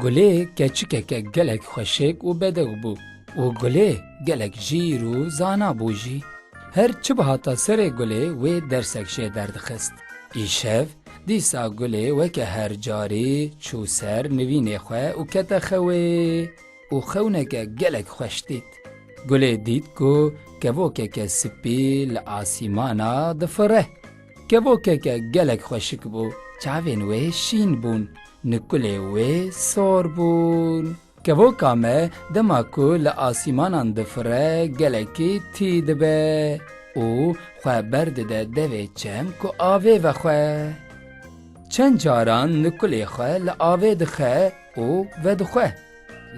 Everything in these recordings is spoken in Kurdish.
Gulê keçikeke gelek xweşik û bedew bû û gulê gelek jîr û zana bû jî. Her çi bihata serê gulê wê dersek jê derdixist. Îşev Dîsa Gulê weke her carî çû ser nivînê xwe û kete xewê û xewneke gelek xweş dît. Gulê dît ku kevokeke sipî li asîmana difire. Kevokeke gelek xweşik bû, çavên wê şîn bûn, nikulê wê sor bûn. Kevoka me dema ku li asîmanan difire gelekî tî dibe û xwe berdide devê çem ku avê vexwe. Çend caran nikulê xwe li avê dixe û vedixwe.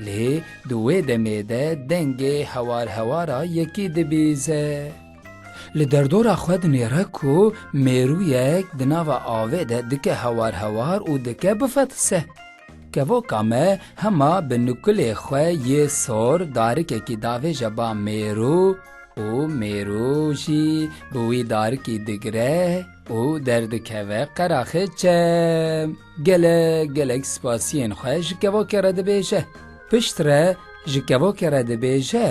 Lê di wê demê de dengê hewar hewara yekî dibîze. Li derdora xwe dinêre ku mêrûyek di nava avê de dike hewar hewar û dike bifetise. Kevoka me hema bi nukulê xwe yê sor darikekî davêje ba mêrû û mêrû jî bi wî darikî digire û derdikeve qeraxê çem. Gelek gelek spasiyên xwe ji kevokê re dibêje. Pişt re ji kevokê re dibêje,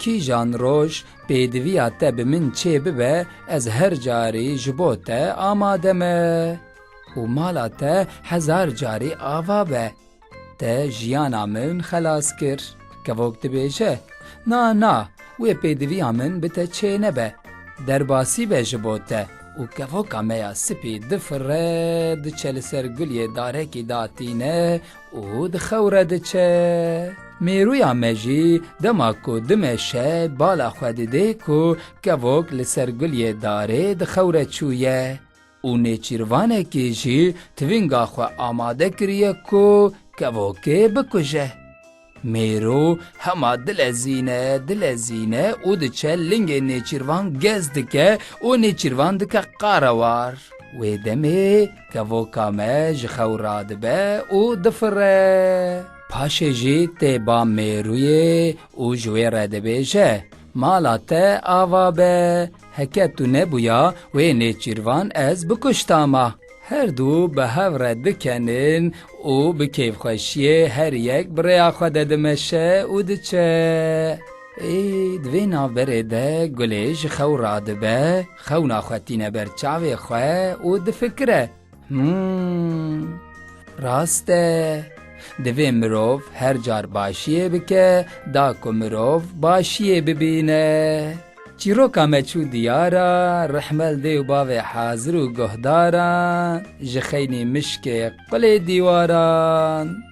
Kîjan roj pêdiviya te bi min çêbibe ez her carî ji bo te amade me. û mala te hezar carî ava be. Te jiyana min xelas kir. Kevok dibêje, Na, na, wê pêdiviya min bi te çê nebe. Derbasî be ji bo te. Û kevoka me ya spî difire, diçe li ser guliyê darekî da tîne û dixewre diçe. Mêrûya me jî dema ku dimeşe bala xwe didê ku kevok li ser guliyê darê dixewre çûye. û nêçîrvanekî jî tivînga xwe amade kiriye ku kevokê bikuje. Mêro hema dilezîne, dilezîne û diçe lingê nêçîrvan gez dike û nêçîrvan dike qarewar. Wê demê kevoka me ji xew radibe û difire. Paşê jî tê ba mêruyê û ji wê re dibêje, Mala te ava be! Heke tu nebûya wê nêçîrvan ez bikuşta ma. Her du bi hev re dikenin û bi kêfxweşiyê her yek bi rêya xwe de dimeşe û diçe. Ê, di vê navberê de Gulê ji xew radibe, xewna xwe tîne ber çavê xwe û difikire. Hmm, rast e. Divê mirov her car başiyê bike da ku mirov başiyê bibîne. Çîroka me çû diyara, rehmel dê û bavê hazir û guhdaran, ji xeynî mişkê qulê dîwaran.